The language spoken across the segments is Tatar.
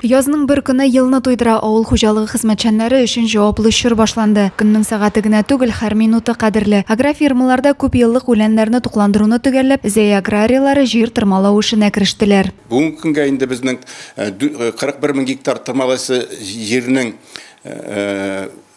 Язның бер көне елны туйдыра авыл хуҗалыгы хезмәтчәннәре өчен җаваплы чор башланды. Көннең сәгате генә түгел, һәр минуты кадерле. Агрофирмаларда күп еллык үләннәрне тукландыруны төгәлләп, Зәя аграрияләре җир тырмалау эшенә керештеләр. Бүгенге көнгә инде безнең 41 мең гектар тырмалайсы җирнең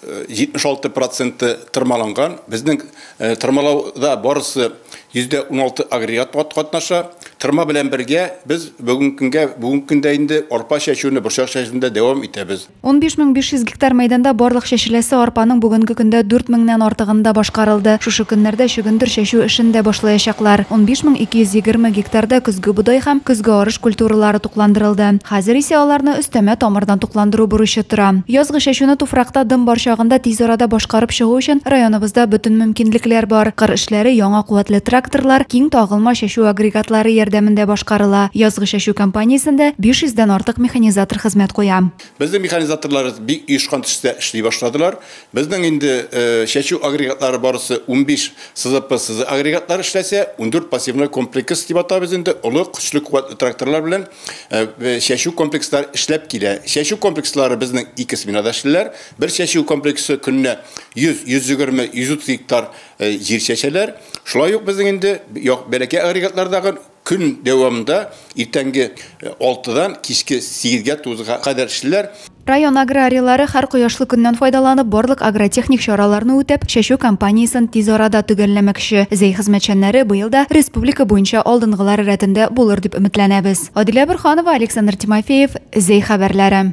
76 проценты тырмаланган. Безнең тырмалауда барысы %16 агрегат катнаша. Тырма белән бергә без бүгенге көнгә, бүгенге көндә инде арпа чәчүне, борчак чәчүне дә дәвам итәбез. 15500 гектар мәйданда барлык чәчеләсе арпаның бүгенге көндә 4000 нән артыгын да башкарылды. Шушы көннәрдә чөгендер чәчү эшен дә башлаячаклар. 15220 гектарда көзге бодай һәм көзге арыш культуралары тукландырылды. Хәзер исә аларны өстәмә тамырдан тукландыру бурычы тора. Язгы чәчүне туфракта дым бар чагында тиз арада башкарып чыгу өчен районыбызда бөтен мөмкинлекләр бар. Кыр эшләре яңа куәтле тракторлар, киң тагылма чәчү агрегатлары ярдәмендә башкарыла. Язгы чәчү кампаниясендә 500 дән артык механизатор хезмәт куя. Безнең механизаторларыбыз бик оешкан төстә эшли башладылар. Безнең инде чәчү агрегатлары барысы унбиш СЗП СЗ агрегатлары эшләсә, ундүрт пассивной комплекс дип атабыз инде, олы, көчле, куәтле тракторлар белән чәчү комплекслары эшләп килә. Чәчү комплекслары безнең ике сменада эшлиләр. Бер чәчү комплексы көненә йөз, йөз егерме, йөз утыз гектар җир чәчәләр. Шулай ук безнең инде бәләкәй агрегатлардагы Көн дәвамында иртәнге алтыдан кичке сигезгә тугызга кадәр эшлиләр. Район аграрийлары һәр кояшлы көннән файдаланып, барлык агротехник чараларны үтәп, чәчү кампаниясен тиз арада төгәлләмәкче. Зәй хезмәтчәннәре быел да республика буенча алдынгылар рәтендә булыр дип өметләнәбез. Адилә Борһанова, Александр Тимофеев, Зәй хәбәрләре.